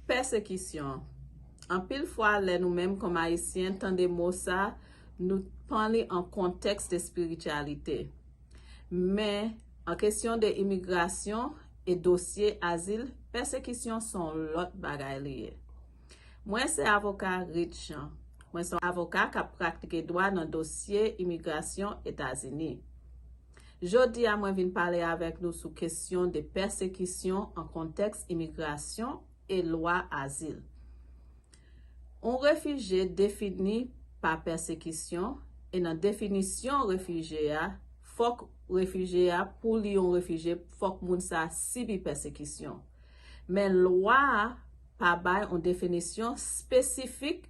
Pèsekisyon. Anpil fwa lè nou menm kòm Ayisyen tande mo sa nou tpan li an kontèks de spirityalite. Men an kesyon de imigrasyon e dosye azil pèsekisyon son lòt bagay li ye. Mwen se avoka Reed Jean. Mwen son avoka kap pratike dwa nan dosye imigrasyon Etazini. Jodi a mwen vin pale avèk nou sou kesyon de pèsekisyon an kontèks imigrasyon e lwa azil. Yon refije defini pa pèsekisyon e nan definisyon refije a fòk refije a pou li yon refije fòk moun sa sibi pèsekisyon. Men lwa a pa bay yon definisyon espesifik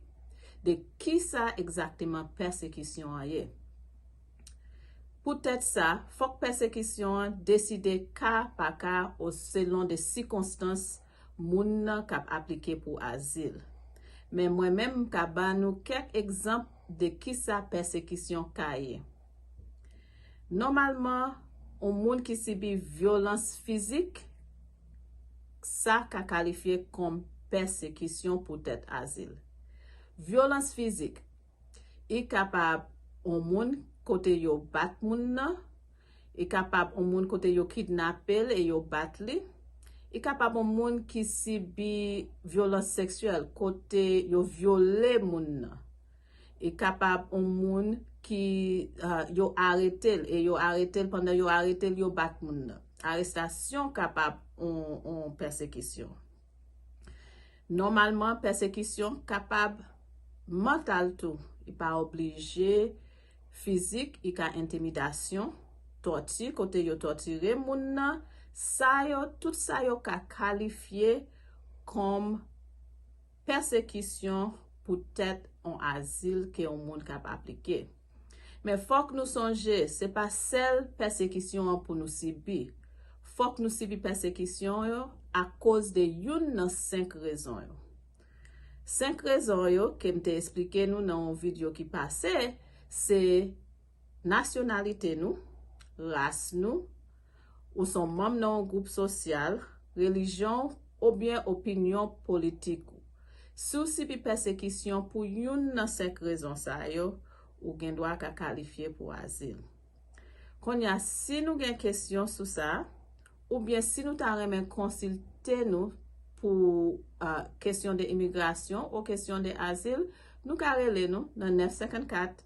de kisa egzakteman pèsekisyon an ye. Poutèt sa, fòk pèsekisyon an deside ka pa ka o selon de sikonstans moun nan k ap aplike pou azil. Men mwen menm m ka ba nou kèk egzanp de kisa pèsekisyon ka ye. Nòmalman, on moun ki sibi vyolans fizik, sa ka kalifye kòm pèsekisyon poutèt azil. Vyolans fizik, I kapab on moun kote yo bat moun nan. I kapab on moun kote yo kidnape l e yo bat li. I kapab on moun ki sibi vyolans seksyèl kote yo vyole moun nan. I kapab on moun ki yo arete l e yo arete l pandan yo arete l yo bat moun nan. Arestasyon kapab on pèsekisyon. Nòmalman, pèsekisyon kapab mantal tou, li pa oblije fizik, li ka entimidasyon, tòti, kote yo tòtire moun nan, sa yo, tout sa yo ka kalifye kòm pèsekisyon poutèt yon azil ke yon moun kab aplike. Men fòk nou sonje se pa sèl pèsekisyon an pou nou sibi. Fòk nou sibi pèsekisyon yo akoz de youn nan senk rezon yo. Senk rezon yo ke m te esplike nou nan yon video ki pase se, nasyonalite nou, ras nou, Ou s on manm nan on gwoup sosyal, relijyon w obyen opinyon politik ou. Si w sibi pèsekisyon pou youn nan senk rezon sa yo, ou gen dwa ka kalifye pou azil. Kounye a, si nou gen kesyon sou sa, oubyen si nou ta renmen konsilte nou pou kesyon de imigrasyon ou kesyon de azil, nou ka rele nou nan 954.